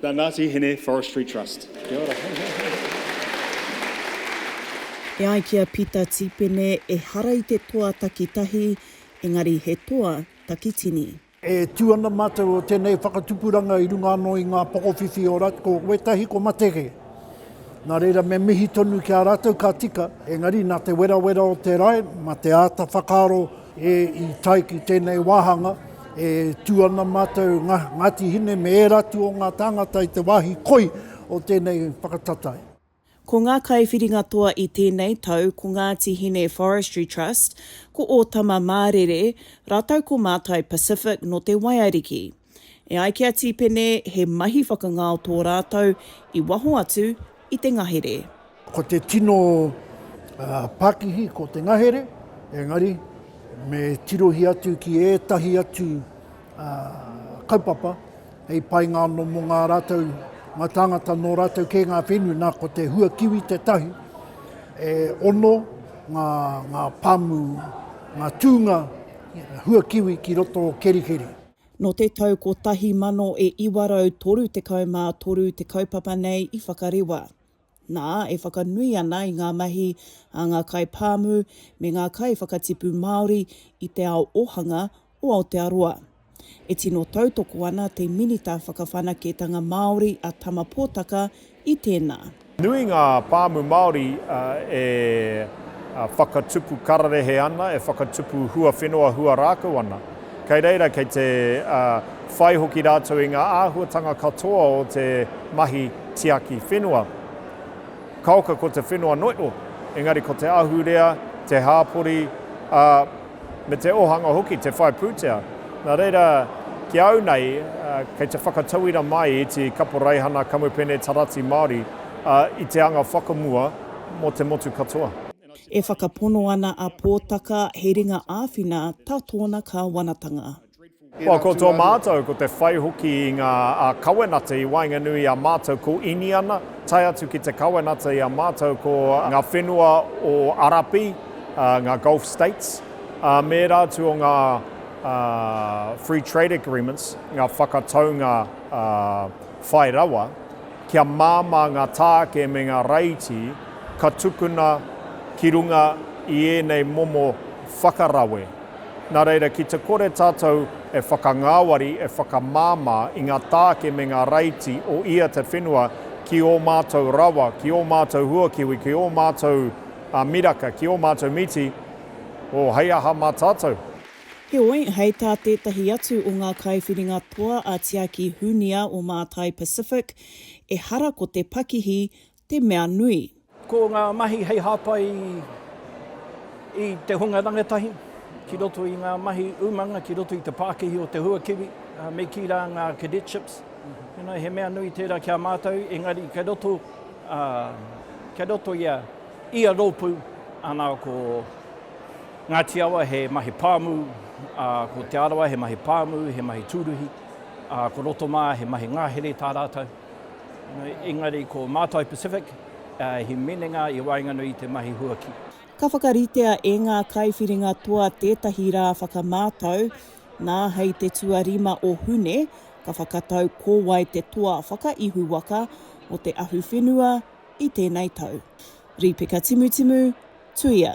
The Ngati Hine Forestry Trust. Kia ora. E ai ki a Pita Tipene, ehara i te toa takitahi, engari he toa takitini. E tū ana mātou o tēnei whakatupuranga i runga anō i ngā pokowhiwhi o Rat, ko wētahi ko Matege. Nā reira me mihi tonu ki a rātou ka tika, engari nā te werawera o te rae, mā te āta whakaaro, E, i tae ki tēnei wāhanga, e tū ana mātou Nga, Ngāti Hine me ērā atu o ngā tāngata i te wāhi koi o tēnei whakatatai. Ko ngā kaiwhiringa toa i tēnei tau ko Ngāti Hine Forestry Trust, ko Ōtama Mārere, rātou ko Mātai Pacific nō Te Waiariki. E ai ki a Tīpene, he mahi whakangao tō rātou i waho atu i te ngahere. Ko te tino pakihi ko te ngahere, engari me tirohia atu ki ētahi atu kaupapa hei painga anō mō ngā rātou, ngā tāngata nō rātou kē ngā whenua, nā ko te hua kiwi tētahi. E ono ngā, ngā pāmu, ngā tūnga hua kiwi ki roto o Kerikeri. Nō te tau 1933 te kaupapa nei i whakarewa. Nā, e whakanui ana i ngā mahi a ngā kaipāmu me ngā kaiwhakatipu Māori i te ao ōhanga o Aotearoa. E tino tautoko ana te Minita Whakawhanaketanga Māori a Tama Potaka i tēnā. Nui ngā pāmu Māori e whakatupu kararehe ana, e whakatupu huawhenua huarākau ana. Kei reira kei te whai hoki rātou i ngā āhuatanga katoa o te mahi tiaki whenua. Kaoka ko te whenua noio, engari ko te ahurea, te hāpori, ā, me te ōhanga hoki, te whai pūtea. Nā reira, ki a au nei, kei te whakatauira mai i te kaporeihana kamupene tarati Māori i te anga whakamua mō te motu katoa. E whakapono ana a Pōtaka he ringa āwhina tā tōna kāwanatanga. Kua koto mātou, ko te whai hoki i ngā kawenata i waenganui i a mātou ko Iniana, tae atu ki te kawenata i a mātou ko ngā whenua o Arapi, ngā Gulf States, ā, mēra atu o ngā Free Trade Agreements, ngā whakataunga whai rawa, kia māmā ngā tāke me ngā raiti ka tukuna ki runga i ēnei momo whakarawe. Nā reira, ki te kore tātou e whakangāwari, e whakamāmā i ngā tāke me ngā raiti o ia te whenua ki ō mātou rawa, ki ō mātou huakiwi, ki ō mātou miraka, ki ō mātou miti, oh, hei aha mā tātou? Heoi, hei tā tētahi atu o ngā kaiwhiringa toa a Tiaki Hunia o Mātai Pacific, ehara ko te pakihi te mea nui. Ko ngā mahi hei hāpai i te hunga rangatahi ki roto i ngā mahi umanga ki roto i te pākihi o te huakiwi, me kī rā ngā cadetships, he mea nui tērā ki a mātou, engari kei roto, kei roto i a ia rōpū, ana ko Ngāti Awa he mahi pāmu, ko Te Arawa he mahi pāmu, he mahi tūruhi, ko Rotomā he mahi ngahere tā rātou. Engari ko Mātai Pacific he minenga i waenganui i te mahi huaki. Ka whakaritea e ngā kaiwhiringa toa tētahi rā whakamātau, nā hei te tuarima o Hune, ka whakatau ko wai te toa whakaihuwaka o te ahuwhenua i tēnei tau. Rīpeka timutimu, tuia.